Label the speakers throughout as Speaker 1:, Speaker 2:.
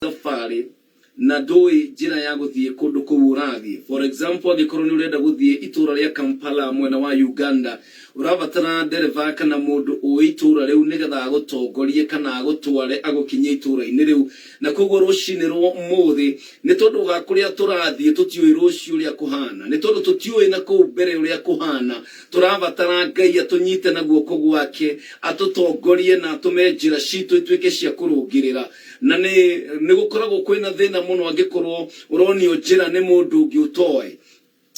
Speaker 1: thabarĩ na ndũĩ njĩra ya gũthiĩ kũndũ kũu ũrathiĩ. For example, angĩkorwo nĩ ũrenda gũthiĩ itũũra rĩa Kampala mwena wa Uganda, ũrabatara ndereba kana mũndũ ũĩ itũũra rĩu nĩgetha agũtongorie kana agũtware agũkinyie itũũra-inĩ rĩu. Na kwoguo rũcinĩ rwa ũmũthĩ, nĩ tondũ wa kũrĩa tũrathiĩ tũtiũĩ rũciũ ũrĩa kũhana, nĩ tondũ tũtiũĩ na kũu mbere ũrĩa kũhana, tũrabatara Ngai atũnyite na guoko gwake, atũtongorie na atũme njĩra citũ ituĩke cia kũrũngĩrĩra. Na nĩ nĩ gũkoragwo kwĩ na thĩna mũno angĩkorwo ũronio njĩra nĩ mũndũ ũngĩ ũtoĩ.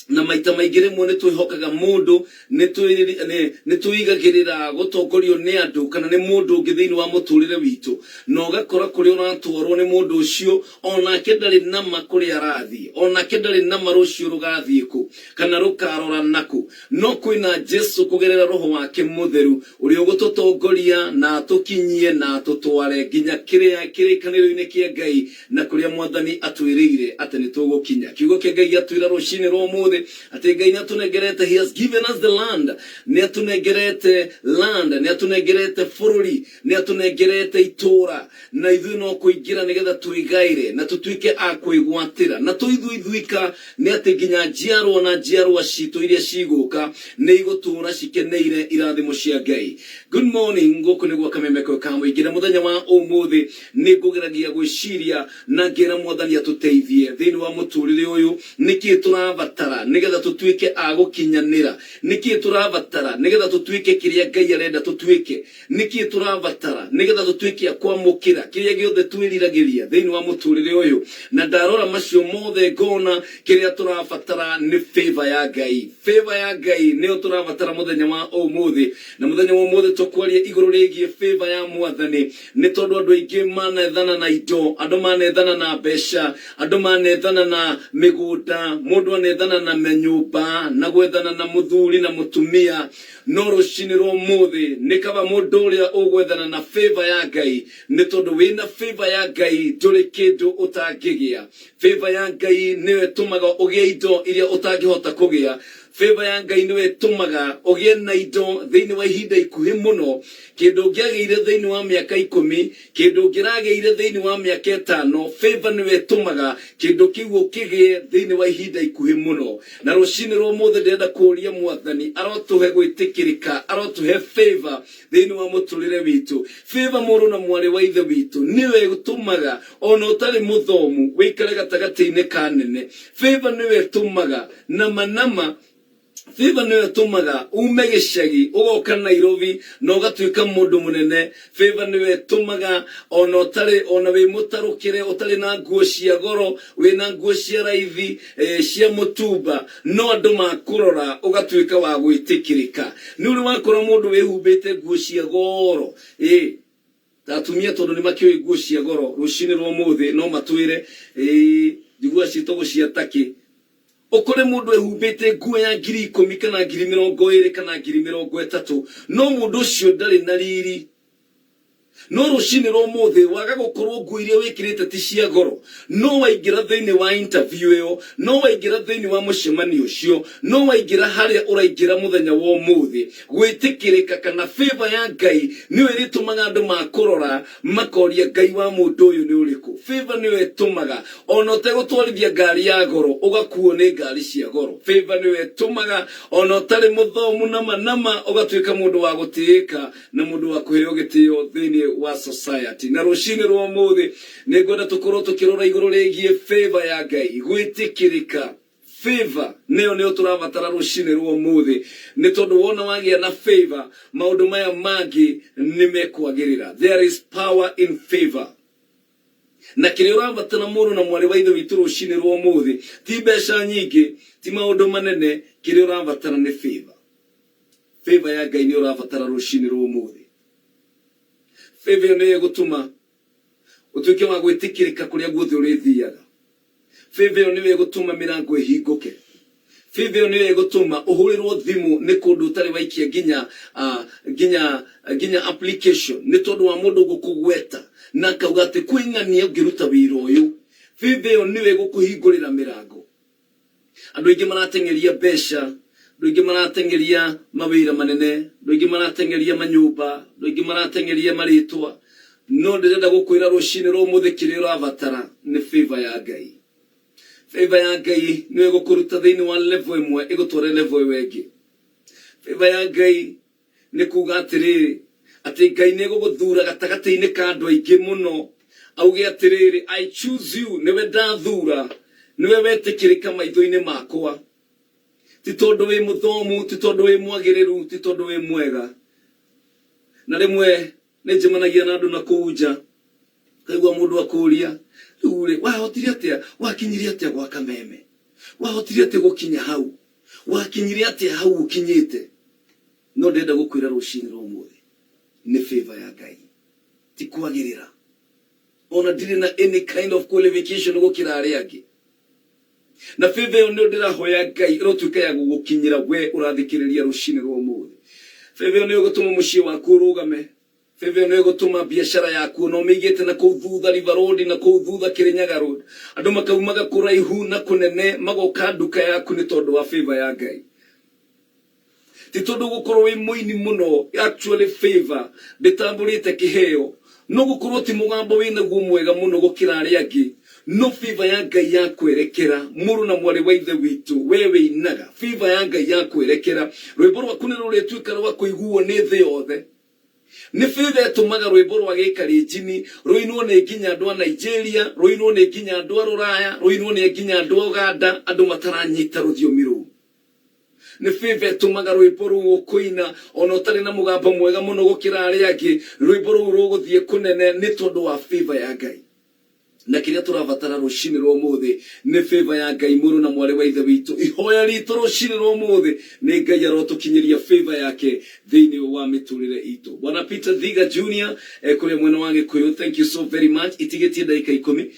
Speaker 1: Na maita maingĩ rĩmwe nĩ twĩhokaga mũndũ, nĩ twĩriri, nĩ, nĩ twĩigagĩrĩra gũtongorio nĩ andũ kana nĩ mũndũ ũngĩ thĩinĩ wa mũtũrĩre witũ. Na ũgakora kũrĩa ũratwarwo nĩ mũndũ ũcio, o nake ndarĩ nama kũrĩa arathiĩ. O nake ndarĩ nama rũciũ rũgathiĩ kũ, kana rũkarora nakũ. No kwĩna Jesũ kũgerera Roho wake Mũtheru ũrĩa ũgũtũtongoria na atũkinyie na atũtware nginya kĩrĩa kĩrĩkanĩro-inĩ kĩa Ngai na kũrĩa Mwathani atwĩrĩire atĩ nĩ tũgũkinya. Kiugo kĩa Ngai gĩatwĩra rũcinĩ rwa ũmũthĩ atĩ Ngai nĩ atũnengerete, he has given us the land, nĩ atũnengerete land, nĩ atũnengerete bũrũri. Nĩatũnengerete itũũra, na ithuĩ no kũingĩra nĩgetha tũrĩgaĩre, na tũtuĩke a kwĩgwatĩra. Na to ithuĩ ithuika, nĩ atĩ nginya njiarwa na njiarwa ciitũ iria cigũũka nĩigũtũũra cikeneire irathimo cia Ngai. Good morning, gũkũ nĩ gwa Kamemeko ka Mũingĩ, na mũthenya wa ũmũthĩ nĩngũgeragia gwĩciria na ngera Mwathani atũteithie thĩinĩ wa mũtũrĩre ũyũ. Nĩkĩĩ tũrabatara nĩgetha tũtuĩke a gũkinyanĩra? Nĩkĩĩ tũrabatara nĩgetha tũtuĩke kĩrĩa Ngai arenda tũtuĩke? Nĩkĩ tũrabatara nĩgetha tũtuĩke a kwamũkĩra kĩrĩa gĩothe twĩriragĩria thĩinĩ wa mũtũrĩre ũyũ? Na ndarora macio mothe ngona kĩrĩa tũrabatara nĩ favour ya Ngai. Favour ya Ngai nĩyo tũrabatara mũthenya wa ũmũthĩ. Na mũthenya wa ũmũthĩ tũkwaria igũrũ rĩgiĩ favour ya Mwathani. Nĩ tondũ andũ aingĩ manethana na indo, andũ manethana na mbeca, andũ manethana na mĩgũnda, mũndũ anethana na manyũmba, na gwethana na mũthuri na mũtumia, No rũcinĩ rwa ũmũthĩ nĩ kaba mũndũ ũrĩa ũgwethana na favour ya Ngai nĩ tondũ wĩna favour ya Ngai ndũrĩ kĩndũ ũtangĩgĩa. Favour ya Ngai nĩyo ĩtũmaga ũgĩe indo iria ũtangĩhota kũgĩa. Favour ya Ngai nĩyo ĩtũmaga ũgĩe na indo thĩinĩ wa ihinda ikuhĩ mũno. Kĩndũ ũngĩagĩire thĩinĩ wa mĩaka ikũmi Kĩndũ ũngĩragĩire thĩinĩ wa mĩaka ĩtano, Favour nĩwe ĩtũmaga kĩndũ kĩu ũkĩgĩe thĩinĩ wa ihinda ikuhĩ mũno. Na rũcinĩ rwa ũmũthĩ ndĩrenda kũũria Mwathani arotũhe gwĩtĩkĩrĩka, arotũhe Favour thĩinĩ wa mũtũrĩre witũ. Favour mũrũ na mwarĩ wa Ithe witũ nĩyo ĩtũmaga ona ũtarĩ mũthomu wĩikare gatagatĩinĩ ka anene. Favour nĩyo ĩtũmaga nama nama. Favor nĩyo ĩtũmaga ume gĩcagi ũgoka Nairobi na ũgatuĩka mũndũ mũnene. Favor nĩyo ĩtũmaga ona ũtarĩ ona wĩ mũtarũkĩre ũtarĩ na nguo cia goro wĩna nguo cia raithi cia mũtumba no andũ makũrora ũgatuĩka wa gwĩtĩkĩrĩka. Nĩũrĩ wakora mũndũ wĩhumbĩte nguo cia goro? Ĩĩ. Na atumia tondũ nĩmakĩũĩ nguo cia goro rũcinĩ rwa ũmũthĩ no matwĩre, Ĩĩ, njiguaga ciĩ togo cia takĩ. Ũkore mũndũ ehumbĩte nguo ya ngiri ikũmi kana ngiri mĩrongo ĩĩrĩ kana ngiri mĩrongo ĩtatũ, no mũndũ ũcio ndarĩ na riri. No rũcinĩ rwa ũmũthĩ waga gũkorwo nguo iria wĩkĩrĩte ti cia goro, no waingĩra thĩinĩ wa interview ĩyo, no waingĩra thĩinĩ wa mũcemanio ũcio, no waingĩra harĩa ũraingĩra mũthenya wa ũmũthĩ, Gwĩtĩkĩrĩka kana favour ya Ngai nĩyo ĩrĩtũmaga andũ makũrora makoria Ngai wa mũndũ ũyũ nĩ ũrĩkũ. Favour nĩyo ĩtũmaga ona ũtegũtwarithia ngari ya goro ũgakuo nĩ ngari cia goro. Favour nĩyo ĩtũmaga ona ũtarĩ mũthomu nama nama ũgatuĩka mũndũ wa gũtĩĩka na mũndũ wa kũheo gĩtĩo thĩinĩ wa society. Na rũcinĩ rwa ũmũthĩ nĩngwenda tũkorwo tũkĩrora igũrũ rĩgiĩ favour ya Ngai, gwĩtĩkĩrĩka. Favor nĩyo nĩyo tũrabatara rũcinĩ rwa ũmũthĩ, nĩ tondũ wona wagĩa na favor maũndũ maya mangĩ nĩ mekwagĩrĩra. There is power in favor. Na kĩrĩa ũrabatara mũrũ na mwarĩ wa Ithe witũ rũcinĩ rwa ũmũthĩ, ti mbeca nyingĩ, ti maũndũ manene, kĩrĩa ũrabatara nĩ favor. Favor ya Ngai nĩyo ũrabatara rũcinĩ rwa ũmũthĩ. Favor ĩyo nĩyo ĩgũtũma Ũtuĩke wa gwĩtĩkĩrĩka kũrĩa guothe ũrĩthiaga. Favor ĩyo nĩyo ĩgũtũma mĩrango ĩhingũke. Favor ĩyo nĩyo ĩgũtũma ũhũrĩrwo thimũ nĩ kũndũ ũtarĩ waikia nginya, ah, nginya, nginya application nĩ tondũ wa mũndũ gũkũgweta na akauga atĩ kwĩ ng'ania ũngĩruta wĩra ũyũ. Favor ĩyo nĩyo ĩgũkũhingũrĩra mĩrango. Andũ aingĩ marateng'eria mbeca, andũ aingĩ marateng'eria mawĩra manene, andũ aingĩ marateng'eria manyũmba, andũ aingĩ marateng'eria marĩtwa, no ndĩrenda gũkwĩra rũcinĩ rwa ũmũthĩ kĩrĩa ũrabatara nĩ favour ya Ngai. Favour ya Ngai nĩyo ĩgũkũruta thĩinĩ wa level ĩmwe ĩgũtware level ĩyo ĩngĩ. Favour ya Ngai Nĩ kuuga atĩrĩrĩ, atĩ Ngai nĩegũgũthuura gatagatĩ-inĩ ka andũ aingĩ mũno, auge atĩrĩrĩ, I choose you, nĩwe ndathuura, nĩwe wetĩkĩrĩka maitho-inĩ makwa. Ti tondũ wĩ mũthomu, ti tondũ wĩ mwagĩrĩru, ti tondũ wĩ mwega. Na rĩmwe Nĩ njemanagia na andũ na kũu nja, ngaigua mũndũ akũũria, 'Rĩu-rĩ, wahotire atĩa? Wakinyire atĩa gwa kameme? Wahotire atĩa gũkinya hau? Wakinyire atĩa hau ũkinyĩte? No ndĩrenda gũkwĩra rũcinĩ rwa ũmũthĩ, nĩ favour ya Ngai, ti kwagĩrĩra. O na ndirĩ na any kind of qualification gũkĩra arĩa angĩ. Na vĩvĩ ĩyo nĩyo ndĩrahoya Ngai ĩrotuĩka ya gũgũkinyĩra wee ũrathikĩrĩria rũcinĩ rwa ũmũthĩ. Vĩvĩ ĩyo nĩyo ĩgũtũma mũciĩ waku ũrũgame. Vĩvĩ ĩyo nĩyo ĩgũtũma biacara yaku ona ũmĩigĩte na kũu thutha River Road, na kũu thutha Kĩrĩnyaga Road, andũ makaumaga kũraihu na kũnene magoka nduka yaku nĩ tondũ wa vĩvĩ ya Ngai. Ti tondu gukorwo wi muini muno actually favour nditambũrĩte kĩheo no gũkorwo ti mũgambo wĩnaguo mwega mũno gũkĩra arĩa angĩ no favour ya Ngai yakwerekera mũrũ na mwarĩ wa Ithe witũ we wĩinaga favour ya Ngai yakwerekera rwĩmbo rwaku nĩrũrĩtuĩka rwa kũiguo nĩ thĩ yothe nĩ favour ĩtũmaga rwĩmbo rwa Gĩkalenjini rũinwo nĩ nginya andũ a Nigeria rũinwo nĩ nginya andũ a rũraya rũinwo nĩ nginya andũ a Uganda andũ mataranyita rũthiomi rũu. Nĩ bĩba ĩtũmaga rwĩmbo rũu ũkũina o na ũtarĩ na mũgambo mwega mũno gũkĩra arĩa angĩ. Rwĩmbo rũu rũgũthiĩ kũnene nĩ tondũ wa bĩba ya Ngai. Na kĩrĩa tũrabatara rũcinĩ rwa ũmũthĩ nĩ bĩba ya Ngai, Mũrũ na Mwarĩ wa Ithe witũ. Ihoya ritũ rũcinĩ rwa ũmũthĩ nĩ Ngai arotũkinyĩria bĩba yake thĩinĩ wa mĩtũrĩre itũ. Bwana Peter Thiga Junior e kũrĩa mwena wa Gĩkũyũ, thank you so very much. Itigĩtie ndagĩka ikũmi.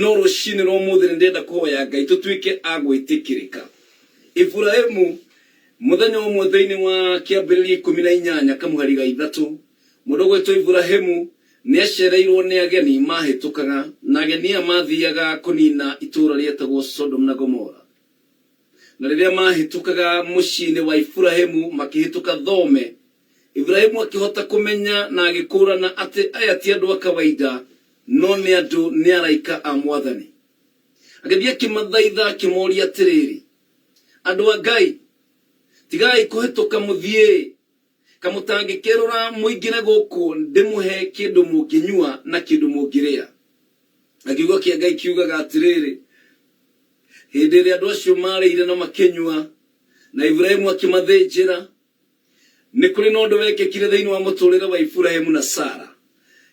Speaker 1: No rũcinĩ rwa ũmũthĩ nĩ ndĩrenda kũhoya Ngai tũtuĩke a gwĩtĩkĩrĩka. Iburahimu, mũthenya ũmwe thĩinĩ wa Kĩambĩrĩria ikũmi na inyanya kamũhari ga ithatũ, mũndũ ũgwĩtwo Iburahimu nĩ acereirũo nĩ ageni maahĩtũkaga, na ageni aya maathiaga kũniina itũũra rĩetagwo Sodomu na Gomora. Na rĩrĩa maahĩtũkaga mũciĩ-inĩ wa Iburahimu makĩhĩtũka thome, Iburahimu akĩhota kũmenya na agĩkũũrana atĩ aya ti andũ a kawaida, No nĩ andũ nĩ araika a Mwathani. Agĩthiĩ akĩmathaitha akĩmooria atĩrĩrĩ, Andũ a Ngai, tigai kũhĩtũka mũthiĩ, ka mũtangĩkerũra mũingĩre gũkũ ndĩmũhe kĩndũ mũngĩnyua na kĩndũ mũngĩrĩa. Na kiugo kĩa Ngai kiugaga atĩrĩrĩ, Hĩndĩ ĩrĩa andũ acio maarĩire na makĩnyua, na Iburahimu akĩmathĩnjĩra, Nĩ kũrĩ na ũndũ wekĩkire thĩinĩ wa mũtũũrĩre wa Iburahimu na Sara.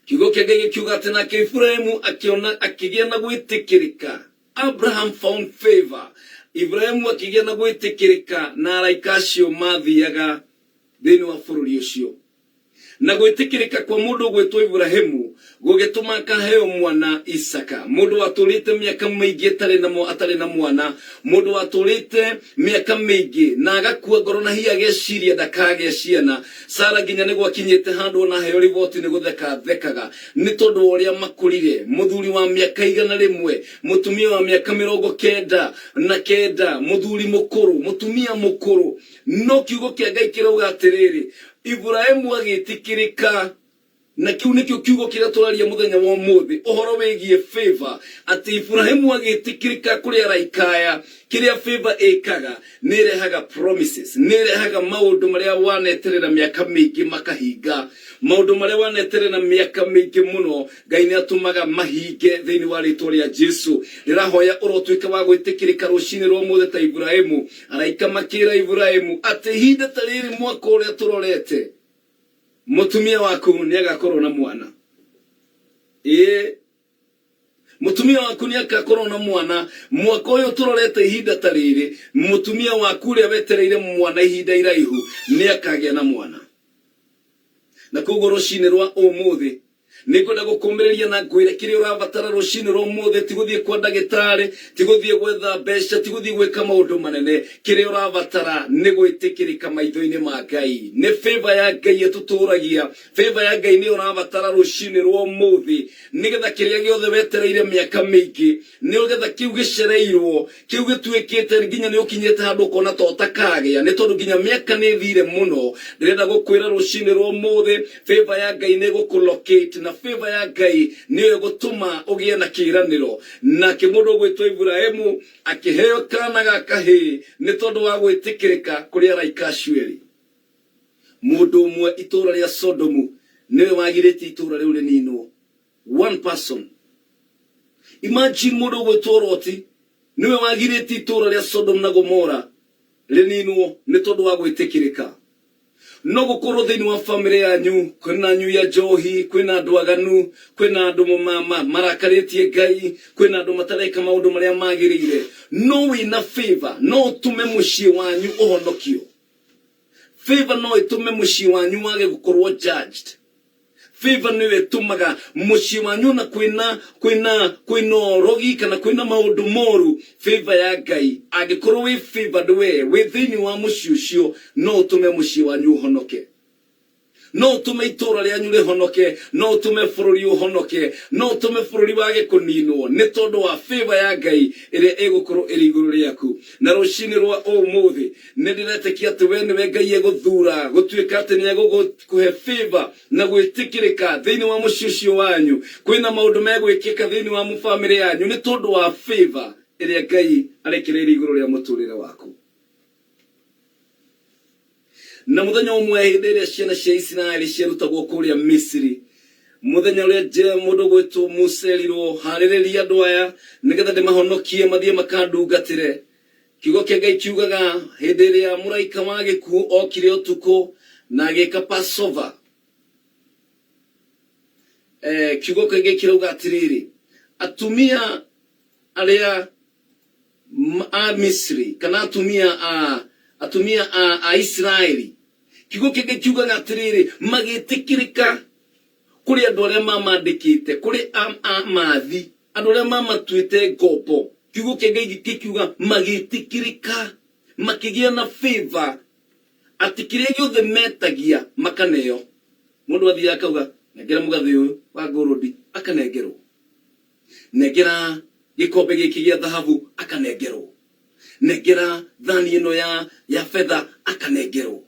Speaker 1: Kiugo kĩa Ngai gĩkiuga atĩ, Nake Iburahimu akĩona, akĩgĩa na gwĩtĩkĩrĩka, Abraham found favour. Iburahimu akĩgĩa na gwĩtĩkĩrĩka na araika acio maathiaga thĩinĩ wa bũrũri ũcio. Na gwĩtĩkĩrĩka kwa mũndũ ũgwĩtwo Iburahimu gũgĩtũma akaheo mwana Isaaka. Mũndũ watũũrĩte mĩaka mĩingĩ atarĩ na, atarĩ na mwana, mũndũ watũũrĩte mĩaka mĩingĩ na agakua ngoro na hihi ageciria ndakagĩa ciana. Sara nginya nĩ gwakinyĩte handũ o na aheo riboti nĩ gũtheka athekaga nĩ tondũ wa ũrĩa makũrire. Mũthuri wa mĩaka igana rĩmwe, mũtumia wa mĩaka mĩrongo kenda na kenda, mũthuri mũkũrũ, mũtumia mũkũrũ. No Kiugo kĩa Ngai kĩrauga atĩrĩrĩ, Iburahimu agĩĩtĩkĩrĩka. Na kĩu nĩkĩo kiugo kĩrĩa tũraria mũthenya wa ũmũthĩ, ũhoro wĩgiĩ favor, atĩ Iburahimu agĩĩtĩkĩrĩka kũrĩ araika aya. Kĩrĩa favor ĩkaga, nĩ ĩrehaga promises, nĩ ĩrehaga maũndũ marĩa waneterera mĩaka mĩingĩ makahinga. Maũndũ marĩa waneterera mĩaka mĩingĩ mũno. Ngai nĩ atũmaga mahinge thĩinĩ wa rĩtwa rĩa Jesu. Ndĩrahoya ũrotuĩka wa gwĩtĩkĩrĩka rũcinĩ rwa ũmũthĩ ta Iburahimu. Araika makĩĩra Iburahimu atĩ ihinda ta rĩrĩ mwaka ũrĩa tũrorete, mũtumia waku nĩ agakorwo na mwana. Ĩĩ, mũtumia waku nĩ agakorwo na mwana. Mwaka ũyũ tũrorete ihinda ta rĩrĩ, mũtumia waku ũrĩa wetereire mwana ihinda iraihu nĩ akagĩa na mwana. Na kwoguo rũcinĩ rwa ũmũthĩ, Nĩ ngwenda gũkũũmĩrĩria na ngwĩre kĩrĩa ũrabatara rũcinĩ rwa ũmũthĩ ti gũthiĩ kwa ndagĩtarĩ, ti gũthiĩ gwetha mbeca, ti gũthiĩ gwĩka maũndũ manene. Kĩrĩa ũrabatara nĩ gwĩtĩkĩrĩka maitho-inĩ ma Ngai. Nĩ favor ya Ngai ĩtũtũũragia. Favor ya Ngai nĩyo ũrabatara rũcinĩ rwa ũmũthĩ, nĩgetha kĩrĩa gĩothe wetereire mĩaka mĩingĩ, Nĩũgetha kĩu gĩcereirwo, kĩu gĩtuĩkĩte nginya nĩũkinyĩte handũ ũkona to ũtakagĩa, nĩ tondũ nginya mĩaka nĩĩthire mũno. Ndĩrenda gũkwĩra rũcinĩ rwa ũmũthĩ, favour ya Ngai nĩĩgũkũ locate, na favour ya Ngai nĩyo ĩgũtũma ũgĩe na kĩĩranĩro. Nake mũndũ ũgwĩtwo Iburahimu akĩheo kaana ga kahĩĩ nĩ tondũ wa gwĩtĩkĩrĩka kũrĩ araika acio erĩ. Mũndũ ũmwe itũũra rĩa Sodomu nĩwe wagirĩtie itũũra rĩu rĩninwo. one person imagine mũndũ ũgwĩtwo roti nĩwe wagirĩtie itũũra rĩa sodom na gomora rĩninwo nĩ tondũ wa gwĩtĩkĩrĩka no gũkorwo thĩinĩ wa bamĩrĩ yanyu kwĩna nyui ya njohi kwĩna andũ aganu kwĩna andũ ma- ma- marakarĩtie ngai kwĩna andũ matareka maũndũ marĩa magĩrĩire no wĩna favor no ũtũme mũciĩ wanyu ũhonokio favor no ĩtũme mũciĩ wanyu wage gũkorwo judged Favor nĩyo ĩtũmaga mũciĩ wanyu ona kwĩna kwĩna kwĩna ũrogi kana kwĩna maũndũ moru favor ya Ngai angĩkorwo wĩ favored we wĩ thĩinĩ wa mũciĩ ũcio no ũtũme mũciĩ wanyu ũhonoke no ũtũme itũũra rĩanyu rĩhonoke no ũtũme bũrũri ũhonoke no ũtũme bũrũri wage kũninwo nĩ tondũ wa favor ya Ngai ĩrĩa ĩgũkorwo ĩrĩ igũrũ rĩaku na rũcinĩ rwa ũmũthĩ Nĩ ndĩretĩkia atĩ wee nĩwe Ngai egũthuura gũtuĩka atĩ nĩ egũgũkũhe favor na gwĩtĩkĩrĩka thĩinĩ wa mũciĩ ũcio wanyu. Kwĩ na maũndũ megwĩkĩka thĩinĩ wa family yanyu nĩ tondũ wa favor ĩrĩa Ngai arekereirie igũrũ rĩa mũtũrĩre waku. Na mũthenya ũmwe hĩndĩ ĩrĩa ciana cia Isiraeli ciarutagwo kũrĩa Misiri, mũthenya ũrĩa Je- mũndũ ũgwĩtwo Musa erirwo, harĩrĩria andũ aya nĩgetha ndĩmahonokie mathiĩ makandungatĩre. Kiugo kĩa Ngai kiugaga, Hĩndĩ ĩrĩa mũraika wa gĩkuũ okire ũtukũ na agĩka Passover, eh, kiugo kĩa Ngai kirauga atĩrĩrĩ, atumia arĩa m- a Misri kana atumia a atumia a, a Isiraeli, kiugo kĩa Ngai kiugaga atĩrĩrĩ, magĩtĩkĩrĩka Kũrĩ andũ arĩa mamandĩkĩte, kũrĩ a, a, maathi, andũ arĩa mamatuĩte ngombo. Kiugo kĩa Ngai gĩ- gĩkiuga, magĩtĩkĩrĩka, makĩgĩa na favor, atĩ kĩrĩa gĩothe metagia, makaneo. Mũndũ athiaga akauga, nengera mũgathĩ ũyũ wa ngũrũndi, akanengerwo. Nengera gĩkombe gĩkĩ gĩa thahabu, akanengerwo. Nengera thani ĩno ya, ya betha, akanengerwo.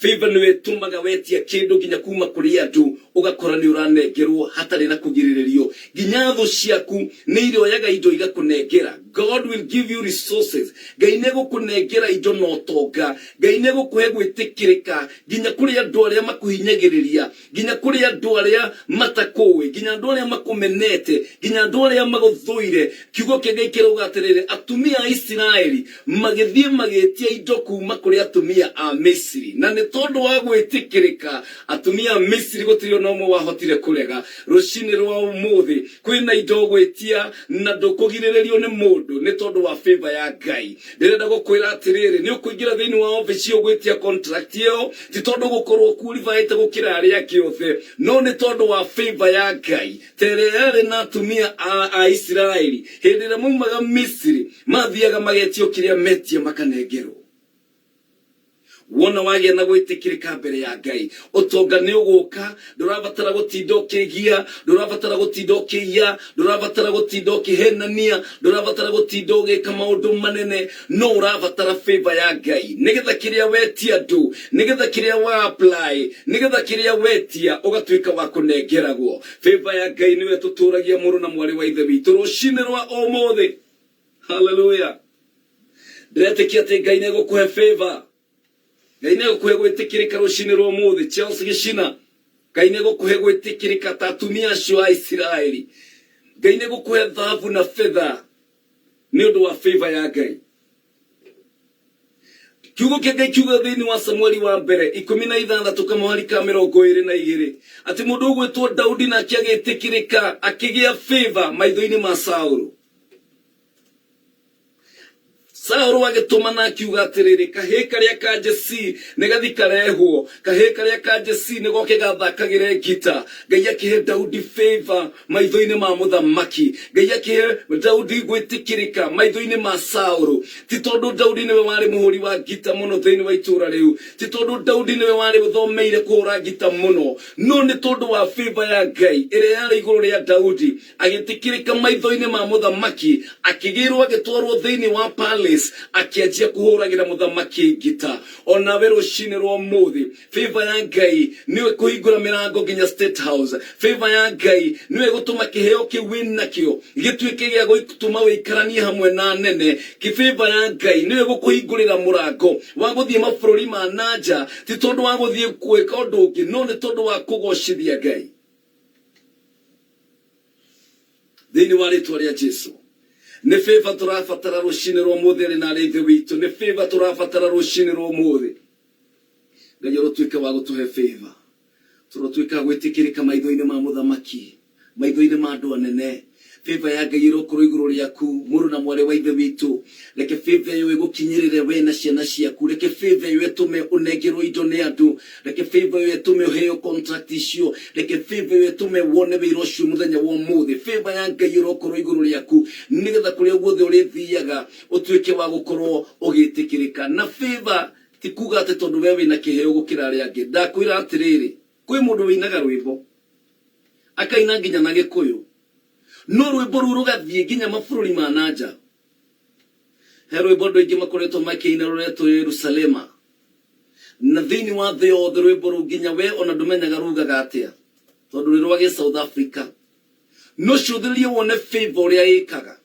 Speaker 1: Favor nĩyo ĩtũmaga wetia kĩndũ nginya kuma kũrĩ andũ ũgakora nĩũranengerwo hatarĩ na kũgirĩrĩrio. Nginya thũ ciaku nĩirĩoyaga indo igakũnengera. God will give you resources. Ngai nĩegũkũnengera indo na ũtonga. Ngai nĩegũkũhe gwĩtĩkĩrĩka nginya kũrĩ andũ arĩa makũhinyagĩrĩria. nginya kũrĩ andũ arĩa matakũũĩ, nginya andũ arĩa makũmenete, nginya andũ arĩa magũthũire. Kiugo kĩa Ngai kĩrauga atĩrĩrĩ, atumia a Isiraeli magĩthiĩ magĩtia indo kuuma kũrĩ atumia a Misiri, na nĩ tondũ wa gwĩtĩkĩrĩka atumia a Misiri gũtirĩ o na ũmwe wahotire kũrega. Rũcinĩ rwa ũmũthĩ, Kwĩna indo ũgwĩtia na ndũkũgirĩrĩrio nĩ mũndũ nĩ tondũ wa favour ya Ngai. Ndĩrenda gũkwĩra atĩrĩrĩ, nĩ ũkũingĩra thĩinĩ wa office ĩyo ũgwĩtia contract ĩyo, ti tondũ ũgũkorwo ũqualified gũkĩra arĩa angĩ othe, no nĩ tondũ wa favour ya Ngai, ta ĩrĩa yarĩ na atumia a Aisiraeli hĩndĩ ĩrĩa maumaga Misiri, mathiaga magetio kĩrĩa metia makanengerwo. Wona wagĩa na gwĩtĩkĩrĩka mbere ya Ngai, ũtonga nĩ ũgũka. Ndũrabatara gũtinda ũkĩĩgia, ndũrabatara gũtinda ũkĩiya, ndũrabatara gũtinda ũkĩhenania, ndũrabatara gũtinda ũgĩka maũndũ manene. No ũrabatara favor ya Ngai, nĩgetha kĩrĩa wetia andũ, nĩgetha kĩrĩa wa apply, nĩgetha kĩrĩa wetia ũgatuĩka wa kũnengeragwo. Favor ya Ngai nĩyo ĩtũtũragia mũrũ na mwarĩ wa Ithe witũ rũcinĩ rwa ũmũthĩ. haleluya ndĩretĩkia atĩ ngai nĩ gũkũhe favor ngai nĩ gũkũhe gwĩtĩkĩrĩka rũcinĩ rwa ũmũthĩ chelsea gĩcina ngai nĩ gũkũhe gwĩtĩkĩrĩka ta atumia acio a isiraeli ngai nĩ gũkũhe thahabu na fetha nĩ ũndũ wa favor ya ngai kiugo kĩa ngai kiuga thĩinĩ wa samueli wa mbere ikũmi na ithathatũ kamũhari ka mĩrongo ĩrĩ na igĩrĩ atĩ mũndũ ũgwĩtwo daudi nake agĩtĩkĩrĩka akĩgĩa favor maitho-inĩ ma saũlũ Saũlũ agĩtũmana akiuga atĩrĩrĩ, kahĩĩ karĩa ka Jesii nĩ gathi karehwo, kahĩĩ karĩa ka Jesii nĩ goke gathakagĩre ngita. Ngai akĩhe Daudi favour maitho-inĩ ma mũthamaki, Ngai akĩhe Daudi gwĩtĩkĩrĩka maitho-inĩ ma Saũlũ. Ti tondũ Daudi nĩwe warĩ mũhũri wa ngita mũno thĩinĩ wa itũũra rĩu, ti tondũ Daudi nĩwe warĩ ũthomeire kũhũra ngita mũno, no nĩ tondũ wa favour ya Ngai ĩrĩa yarĩ igũrũ rĩa Daudi. Agĩtĩkĩrĩka maitho-inĩ ma mũthamaki, akĩgĩĩrwo agĩtwarwo thĩinĩ wa palace, akĩanjia kũhũragĩra mũthamaki ngita. O nawe rũcinĩ rwa ũmũthĩ, favour ya Ngai nĩyo ĩkũhingũra mĩrango nginya State House. Favour ya Ngai nĩyo ĩgũtũma kĩheo kĩu wĩ nakĩo gĩtuĩke gĩa gũtũma ũikaranie hamwe na anene. Ki favour ya Ngai nĩyo ĩgũkũhingũrĩra mũrango wa gũthiĩ mabũrũri ma na nja, ti tondũ wa gũthiĩ gwĩka ũndũ ũngĩ, no nĩ tondũ wa kũgoocithia Ngai. Thĩinĩ wa rĩtwa rĩa Jesu. Nĩ favor tũrabatara rũcinĩ rwa ũmũthĩ arĩ na arĩa ithe witũ. Nĩ favor tũrabatara rũcinĩ rwa ũmũthĩ. Ngai arotuĩka wa gũtũhe favor. Tũrotuĩka a gwĩtĩkĩrĩka maitho-inĩ ma mũthamaki, maitho-inĩ ma andũ anene. Favor ya Ngai ĩrokorwo igũrũ rĩaku, mũrũ na mwarĩ wa ithe witũ. Reke favor ĩyo ĩgũkinyĩrĩre we na ciana ciaku. Reke favor ĩyo ĩtũme ũnengerwo indo nĩ andũ. Reke favor ĩyo ĩtũme ũheo contract icio. Reke favor ĩyo ĩtũme wone wĩra ũcio mũthenya wa ũmũthĩ. Favor ya Ngai ĩrokorwo igũrũ rĩaku nĩgetha kũrĩa guothe ũrĩthiaga ũtuĩke wa gũkorwo ũgĩtĩkĩrĩka. Na favor ti kuga atĩ tondũ we wĩna kĩheo gũkĩra arĩa angĩ. Ndakwĩra atĩrĩrĩ, kwĩ mũndũ wĩinaga rwĩmbo, akaina nginya na gĩkũyũ, no rwĩmbo rũu rũgathiĩ nginya mabũrũri ma na nja, He rwĩmbo andũ aingĩ makoretwo makĩina rũretwo Yerusalema. Na thĩinĩ wa thĩ yothe rwĩmbo rũu nginya we ona ndũmenyaga rugaga atĩa tondũ rwĩ rwa gĩ-South Africa. No cũthĩrĩria wone Favour ũrĩa ĩkaga.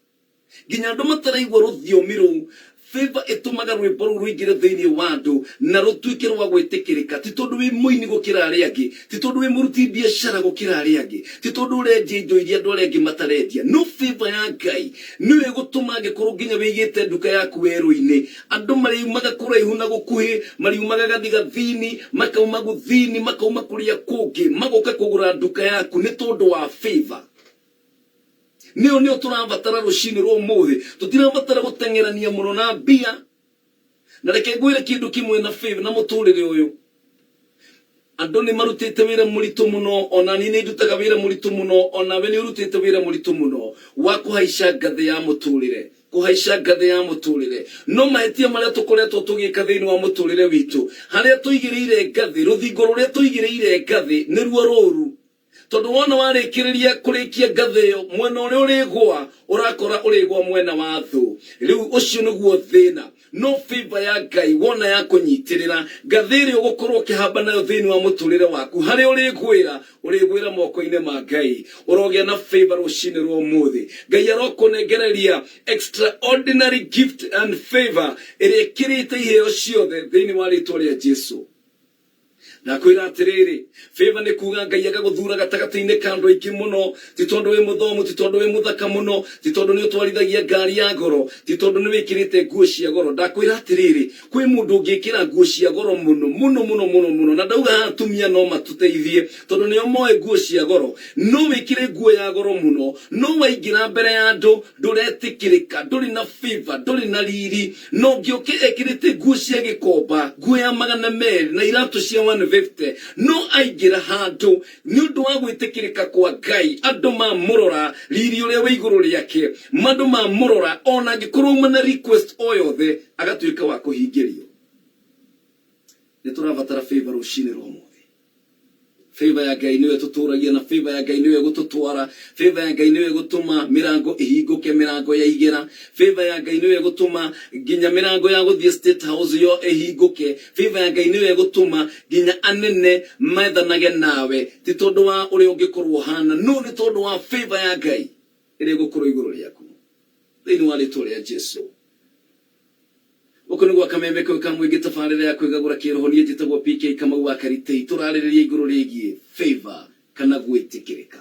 Speaker 1: Nginya andũ mataraigua rũthiomi rũu, Favour ĩtũmaga rwĩmbo rũu rũingĩre thĩinĩ wa andũ na rũtuĩke rwa gwĩtĩkĩrĩka. Ti tondũ wĩ mũini gũkĩra arĩa angĩ. Ti tondũ wĩ mũruti biacara gũkĩra arĩa angĩ, ti tondũ ũrendia indo iria andũ arĩa angĩ matarendia, no favor ya Ngai nĩyo ĩgũtũma angĩkorwo nginya wĩigĩte nduka yaku werũ-inĩ, andũ marĩumaga kũraihu na gũkuhĩ, marĩumaga gathigathini, makauma gũthini, makauma kũrĩa kũngĩ, magoka kũgũra nduka yaku nĩ tondũ wa favor. Nĩyo nĩyo tũrabatara rũcinĩ rwa ũmũthĩ. Tũtirabatara gũteng'erania mũno na mbia. Na reke ngwĩre kĩndũ kĩmwe na Phil, na mũtũũrĩre ũyũ, Andũ nĩ marutĩte wĩra mũritũ mũno, o na niĩ nĩ ndutaga wĩra mũritũ mũno, o nawe nĩ ũrutĩte wĩra mũritũ mũno wa kũhaica ngathĩ ya mũtũũrĩre, kũhaica ngathĩ ya mũtũũrĩre. No mahĩtia marĩa tũkoretwo tũgĩka thĩinĩ wa mũtũũrĩre witũ, harĩa tũigĩrĩire ngathĩ, rũthingo rũrĩa tũigĩrĩire ngathĩ nĩruo rũũru. Tondũ wona warĩkĩrĩria kũrĩkia ngathĩ ĩyo, mwena ũrĩa ũrĩgũa ũrakora ũrĩgũa mwena wa thũ. Rĩu ũcio nĩguo thĩna. No favour ya Ngai wona yakũnyitĩrĩra, ngathĩ ĩrĩa ũgũkorwo ũkĩhamba nayo thĩinĩ wa mũtũrĩre waku, harĩa ũrĩgũĩra, ũrĩgũĩra mokoinĩ ma Ngai. Ũrogĩa na favour rũcinĩ rwa ũmũthĩ. Ngai arokũnengereria extraordinary gift and favour ĩrĩa ĩkĩrĩte iheo ciothe thĩinĩ wa rĩtwa rĩa Jesu. Ndakwĩra atĩrĩrĩ, favour nĩ kuuga Ngai agagũthuura gatagatĩ-inĩ ka andũ aingĩ mũno, ti tondũ wĩ mũthomu, ti tondũ wĩ mũthaka mũno, ti tondũ nĩ ũtwarithagia ngaari ya goro, ti tondũ nĩ wĩkĩrĩte nguo cia goro. Ndakwĩra atĩrĩrĩ, kwĩ mũndũ ũngĩkĩra nguo cia goro mũno, mũno, mũno, mũno, mũno. Na ndauga haha atumia no matũteithie, tondũ nĩo moĩ nguo cia goro. No wĩkĩre nguo ya goro mũno, no waingĩra mbere ya andũ, ndũretĩkĩrĩka, ndũrĩ na favor, ndũrĩ na riri, na ũngĩ ũkĩ ekĩrĩte nguo cia gĩkomba, nguo ya magana merĩ na iratũ cia 150, no aingĩra handũ nĩ ũndũ wa gwĩtĩkĩrĩka kwa Ngai, andũ mamũrora, riri ũrĩa wĩ igũrũ rĩake, andũ mamũrora, ona angĩkorwo auma na request o yothe, agatuĩka wa kũhingĩrio. Nĩ tũrabatara favor rũcinĩ rwa ũmũthĩ. Favor ya Ngai nĩyo ĩtũtũragia na favor ya Ngai nĩyo ĩgũtũtwara. Favor ya Ngai nĩyo ĩgũtũma mĩrango ĩhingũke, mĩrango ya igera. Favor ya Ngai nĩyo ĩgũtũma nginya mĩrango ya gũthiĩ State House yo ĩhingũke. Favor ya Ngai nĩyo ĩgũtũma nginya anene methanage nawe, ti tondũ wa ũrĩa ũngĩkorwo ũhana, no nĩ tondũ wa favor ya Ngai ĩrĩa ĩgũkorwo igũrũ rĩaku, thĩinĩ wa rĩtwa rĩa Jesu. Gũkũ nĩ gwa Kameme Kau ka Mũingĩ tabarĩra ya kwĩgagũra kĩroho niĩ njĩtagwo PK Kamau wa Karitĩi tũrarĩrĩria igũrũ rĩgiĩ favour kana gwĩtĩkĩrĩka.